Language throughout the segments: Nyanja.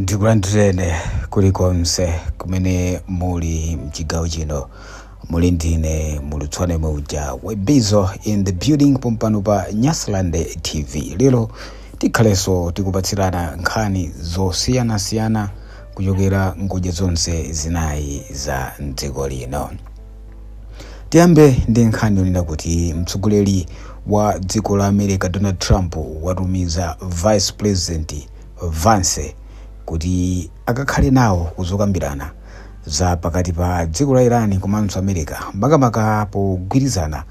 ndikulandireni kulikonse kumene muli mchigawo chino muli ndine mulutswane yemwe uja webizo in the building pompano pa nyasaland tv lero tikhalenso tikupatsirana nkhani zosiyanasiyana kuchokera ngodya zonse zinayi za mdziko lino Tiyambe ndi nkhani yonena kuti mtsogoleri wa dziko la America Donald Trump watumiza Vice President Vance kuti akakhale nawo kuzokambirana za pakati pa dziko la Iran komanso America makamaka pogwirizana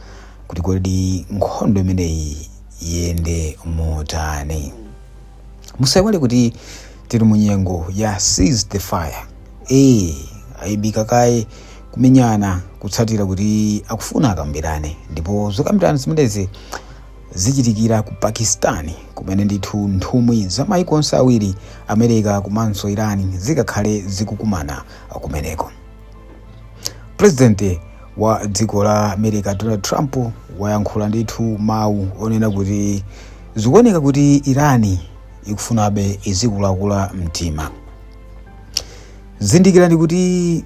kuti kodi nkhondo imeneyi iyende motani. musaiwale kuti tili mu nyengo ya cease the fire ee aimika kaye kumenyana kutsatira kuti akufuna akambirane ndipo zokambirana zimenezi zichitikira ku pakistan kumene ndithu nthumwi za maiko onse awiri america komanso irani zikakhale zikukumana kumeneko pulezidenti wa dziko la america donald trump wayankhula ndithu mawu onena kuti zikuoneka kuti irani ikufunabe izikulakula mtima zindikirani kuti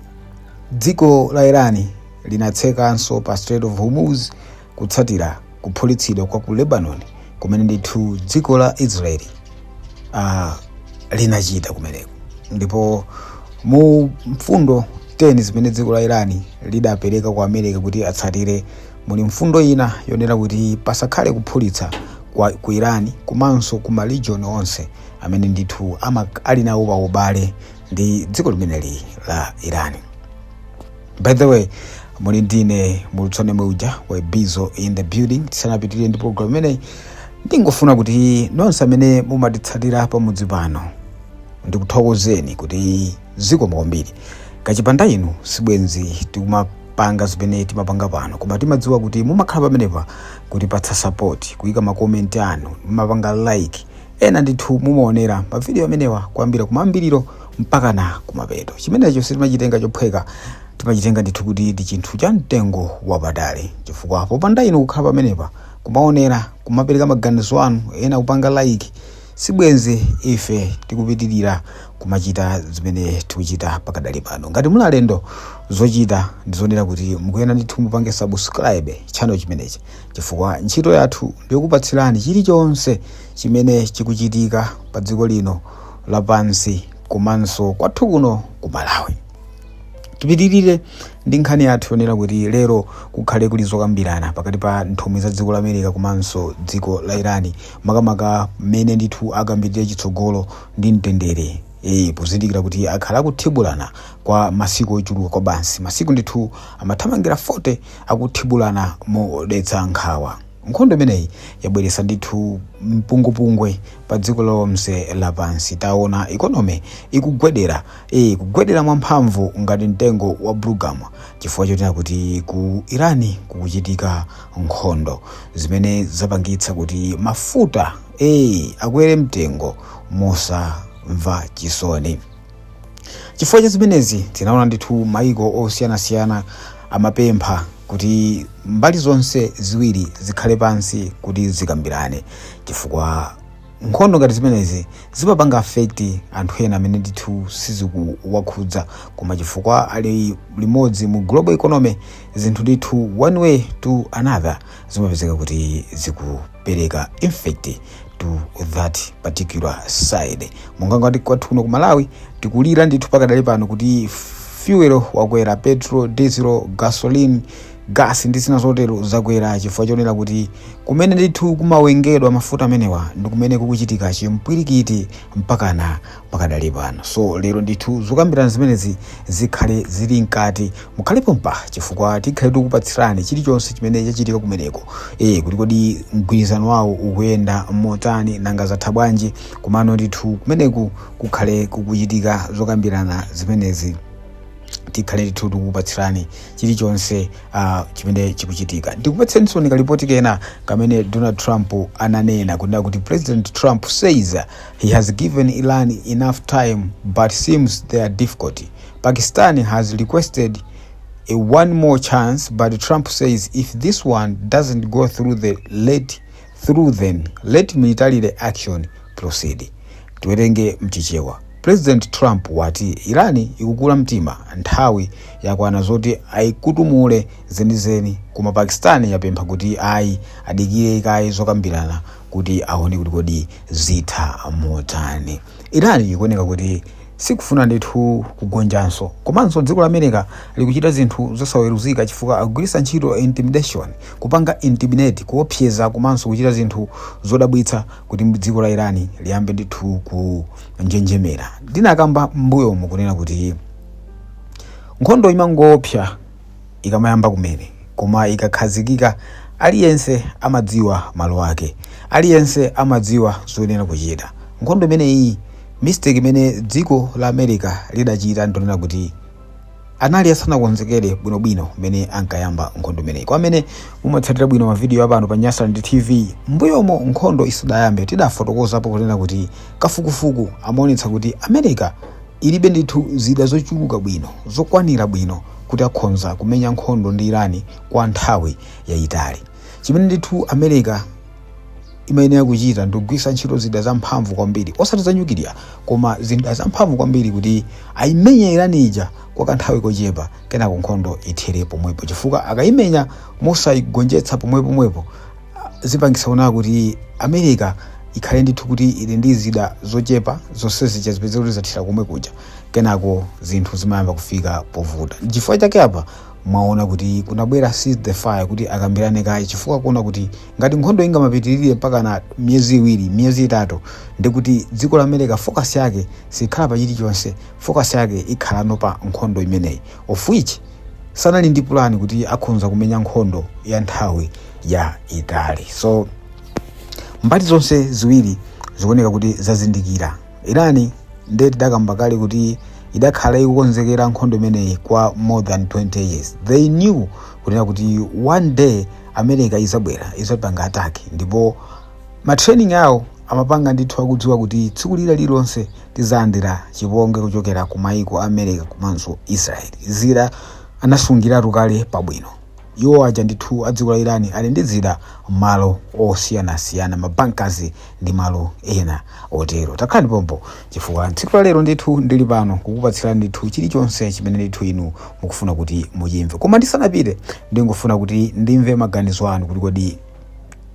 dziko la irani linatsekanso pa strait of hormuz kutsatira kuphulitsidwa kwa ku lebanon kumene ndithu dziko la israeli uh, linachita kumeneko ndipo mu mfundo 10 zimene dziko la irani lidapereka ku america kuti atsatire muli mfundo ina yonena kuti pasakhale kuphulitsa kwa, ku irani komanso ku maregion onse amene ndithu ama- ali nawo paubale ndi dziko limeneli la irani by the way muli ndine mulutswane yemwe uja webizo in the building tisanapitirire ndi program imeneyi ndingofuna kuti nonse amene mumatitsatira pamudzi pano ndikuthokozeni kuti zikomo kwambiri kachipanda inu sibwenzi tikumapanga zimene timapanga pano koma timadziwa kuti mumakhala pamenepa kutipatsa support kuyika makomenti anu mumapanga like ena ndithu mumaonera mavidiyo amenewa kuyambira kumayambiriro mpakana kumapeto chimenecho sitimachitenga chophweka timachitenga ndithu kuti ndi chinthu cha mtengo wapatali chifukwa popanda inu kukhala pamenepa kumaonera kumapereka maganizo anu ena kupanga like sibwenzi ife tikupitirira kumachita zimene tikuchita pakadali pano ngati muli alendo zochita ndizonena kuti mukuyenera ndithu mupange subscribe channel chimenechi chifukwa ntchito yathu ndiyokupatsirani chilichonse chimene chikuchitika pa dziko lino lapansi komanso kwathu kuno ku malawi tipitirire ndi nkhani yathu yonena kuti lero kukhale kuli zokambirana pakati pa nthumwi za dziko la america komanso dziko la irani makamaka mmene ndithu akambirire chitsogolo ndi mtendere e, pozindikira kuti akhala akuthibulana kwa masiku ochuluka kwabasi masiku ndithu amathamangira 40 akuthibulana modetsa nkhawa Nkhondo imeneyi yabweretsa ndithu mpungwepungwe pa dziko lonse lapansi. Taona economy ikugwedera, ee kugwedera mwamphamvu ngati mtengo wa bulugama chifukwa chonena kuti ku Iran kukuchitika nkhondo zimene zapangitsa kuti mafuta ee akwere mtengo mosamva chisoni. chifukwa cha zimenezi tinaona ndithu maiko osiyanasiyana amapempha kuti mbali zonse ziwiri zikhale pansi kuti zikambirane chifukwa nkhondo ngati zimenezi zimapanga affect anthu ena amene ndithu sizikuwakhudza koma chifukwa ali limodzi mu global economy zinthu ndithu one way to another zimapezeka kuti ziku pereka effect to that particular side monga ngati kwathu kuno ku malawi tikulira ndithu pakadali pano kuti fuel wakwera petrol diesel gasoline gas ndi zina zotero zakwera chifukwa chonena kuti kumene ndithu kumawengedwa mafuta amenewa ndi kumene kukuchitika chipwirikiti mpakana pakadali pano so lero ndithu zokambirana zimenezi zikhale zili mkati mukhale pompa chifukwa tikhale tikupatsirani chilichonse chimene chachitika kumeneko e, kuti kodi mgwirizano wawo ukuyenda motani nanga zatha bwanji komano ndithu kumeneku kukhale kukuchitika zokambirana zimenezi tikhale ndithu tikupatsirani chilichonse uh, chimene chikuchitika ndikupatsireninso kalipoti kena kamene donald trump ananena kunena kuti president trump says He has given Iran enough time but seems they are difficult. Pakistan has requested a one more chance but Trump says if this one doesn't go through then let military action proceed. Tiwerenge mchichewa. President Trump wati Iran ikukula mtima nthawi yakwana zoti ayikutumule zenizeni koma Pakistan yapempha kuti ayi adikire kaye zokambirana kuti aone kuti kodi zitha motani iran ikuoneka kuti sikufuna ndithu kugonjanso komanso dziko la america likuchita zinthu zosaweruzika chifukwa akugwiritsa ntchito intimidation kupanga intimidate kuopseza komanso kuchita zinthu zodabwitsa kuti dziko la iran liyambe ndithu kunjenjemera ndinakamba mbuyomu kunena kuti nkhondo imangoopsa ikamayamba kumene, koma ikakhazikika, aliyense amadziwa malo ake. Aliyense amadziwa zoyenera kuchita. Nkhondo imeneyi, mistake imene dziko la America lidachita ndi yonena kuti anali asanakonzekere bwinobwino mmene ankayamba nkhondo imeneyi. Kwa amene mumatsatira bwino mavidiyo apano pa Nyasaland TV, m'mbuyomo nkhondo isadayambe tidafotokozapo kunena kuti kafukufuku amaonetsa kuti America Ilibe ndithu zida zochuluka bwino, zokwanira bwino kuti akhonza kumenya nkhondo ndi Irani kwa nthawi yayitali. Chimene ndithu America imayenera kuchita ndikugwiritsa ntchito zida zamphamvu kwambiri, osati za nyukiliya, koma zida zamphamvu kwambiri kuti ayimenye Irani ija kwa kanthawi kochepa kenako nkhondo ithere pomwepo, chifukwa akayimenya mosayigonjetsa pomwepomwepo, zipangitsa kunena kuti america ikhale ndithu kuti ili ndi zida zochepa zonse zija zipeze kuti zathira komwe kuja kenako zinthu zimayamba kufika povuta chifukwa chake apa mwaona kuti kunabwera cease the fire kuti akambirane kaye chifukwa kuona kuti ngati nkhondo ingamapitirire mpakana miyezi iwiri miyezi itatu ndiye kuti dziko la america focus yake sikhala pa chilichonse focus yake ikhalano pa nkhondo imeneyi of which sanali ndi pulani kuti akhonza kumenya nkhondo ya nthawi yaitali so mbali zonse ziwiri zikuoneka kuti zazindikira irani nde tidakamba kale kuti idakhala ikukonzekera nkhondo imeneyi kwa more than 20 years they knew kunena kuti one day america izabwera izapanga attack ndipo matraining awo amapanga ndithu akudziwa kuti tsiku lina lililonse tizalandira chipongwe kuchokera ku maiko a america komanso israel zida anasungiratu kale pabwino Iwo aja ndithu a dziko la Iran ali ndi zida malo osiyanasiyana, ma bunkers ndi malo ena otero. Takhalani pompano chifukwa tsiku la lero ndithu ndili pano kukupatsirani ndithu chilichonse chimene ndithu inu mukufuna kuti muchimve. Koma ndisanapite ndingofuna kuti ndimve maganizo anu kuti kodi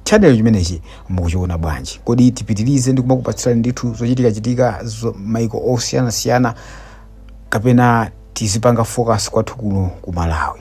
channel chimenechi mukuchiona bwanji? Kodi tipitirize ndi kumakupatsirani ndithu zochitikachitika za maiko osiyanasiyana kapena tizipanga focus kwathu kuno ku Malawi?